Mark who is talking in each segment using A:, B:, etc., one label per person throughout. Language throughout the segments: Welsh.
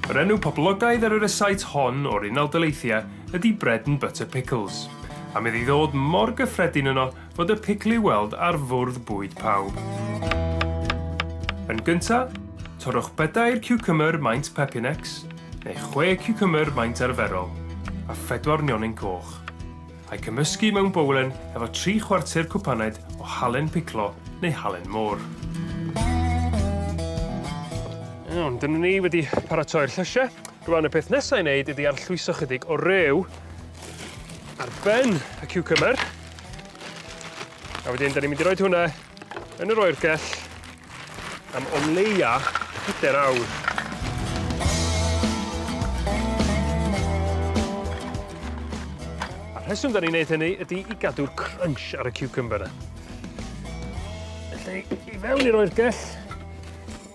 A: Yr enw poblogaidd ar y rysait hon o'r Unol Daleithiau ydy bread and butter pickles, am iddi ddod mor gyffredin yno fod y picl i'w weld ar fwrdd bwyd pawb. Yn gynta, torrwch bedair ciwcymr maint pepinex, neu chwe ciwcymr maint arferol, a phedwar nionyn coch. A'i cymysgu mewn bowlen efo tri chwarter cwpaned o halen piclo neu halen môr. Iawn, dyna ni wedi paratoi'r llysie. Rŵan y peth nesa i neud ydi arllwyso chydig o rew ar ben y ciwcymbyr. A wedyn 'dan ni'n mynd i roid hwnne Yn yr oergell am o leia pedair awr. A'r rheswm 'dan ni'n neud hynny ydi i gadw'r crunch ar y ciwcymbyr 'na. Felly i fewn i'r oergell.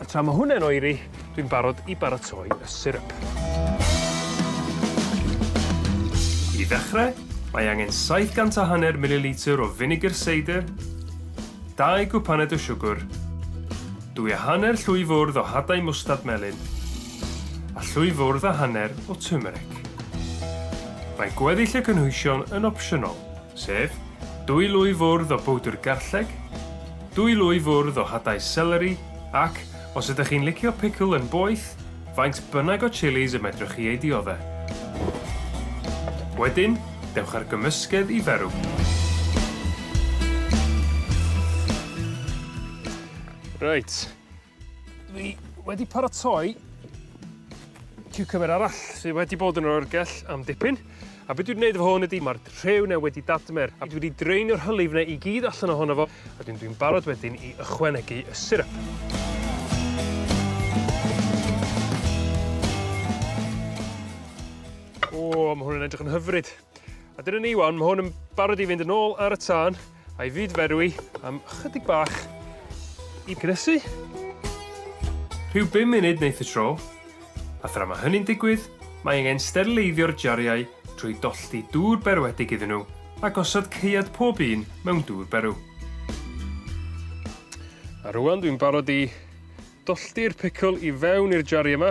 A: A tra ma' hwnne'n oeri dwi'n barod i baratoi y syrup. I ddechre, mae angen saith gant a hanner mililitr o finegr seidr, dau gwpaned o siwgwr, dwy a hanner llwy fwrdd o hadau mwstard melyn, a llwy fwrdd a hanner o twmeric. Mae gweddill y cynhwysion yn opsiynol, sef dwy lwy fwrdd o bowdr garlleg, Dwy lwy fwrdd o hadau seleri ac, os ydych chi'n licio picl yn boeth, faint bynnag o chilis y medrwch chi eu diodde'. Wedyn, dewch â'r gymysgedd i ferw. Reit. Dwi wedi paratoi ciwcymbyr arall sy wedi bod yn yr oergell am dipyn a be' dwi 'di neud efo hwn ydi ma'r rhew 'ne wedi dadmer a dwi 'di draenio'r hylif 'ne i gyd allan ohono fo a dwi'n dwi'n barod wedyn i ychwanegu y siryp. O ma' hwn yn edrych yn hyfryd. A dyna ni 'wan ma' hwn yn barod i fynd yn ôl ar y tân a'i fyd-ferwi am ychydig bach i gnesu. Rhyw bum munud neith y tro, a thra ma' hynny'n digwydd mae angen sterleiddio'r jariau trwy dollti dŵr berwedig iddyn nhw a gosod caead pob un mewn dŵr berw. A rŵan dwi'n barod i Dollti'r picl i fewn i'r jari yma.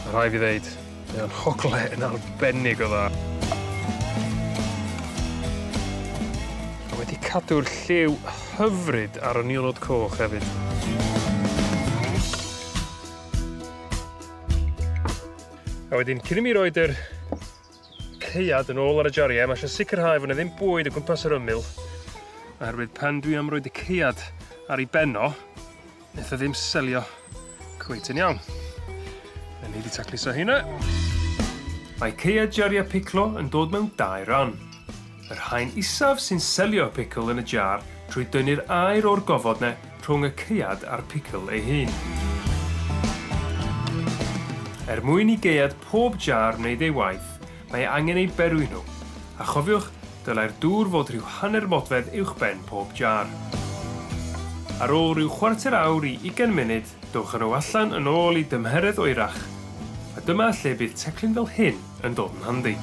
A: Ma' rhai' fi ddeud mae o'n hogle yn arbennig o dda. A wedi cadw'r lliw hyfryd ar y nionod coch hefyd. A wedyn cyn i mi roid yr caead yn ôl ar y jariau, mae eisiau sicrhau fod yna ddim bwyd o gwmpas yr ymyl, oherwydd pan dwi am roed y caead ar ei benno, wnaeth o ddim selio cweit yn iawn. Mae ni wedi tacluso hynna. Mae caead jariau piclo yn dod mewn dau ran. Yr haen isaf sy'n selio'r picl yn y jar trwy dynnu'r aer o'r gofod ne rhwng y caead a'r picl ei hun. Er mwyn i gaead pob jar wneud ei waith, mae angen eu berwi nhw, a chofiwch, dylai'r dŵr fod rhyw hanner modfedd uwchben pob jar. Ar ôl rhyw chwarter awr i ugain munud, dowch â nhw allan yn ôl i dymheredd oerach, a dyma lle bydd teclyn fel hyn yn dod yn handi.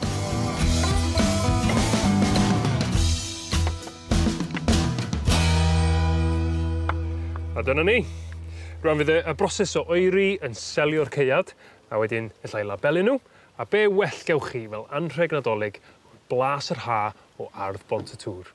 A: A dyna ni. Rwan fydd y y broses o oeri yn selio'r caead a wedyn ella i labelu n'w a be' well gewch chi fel anrheg Nadolig ond blas yr Ha o ardd Bont y Tŵr.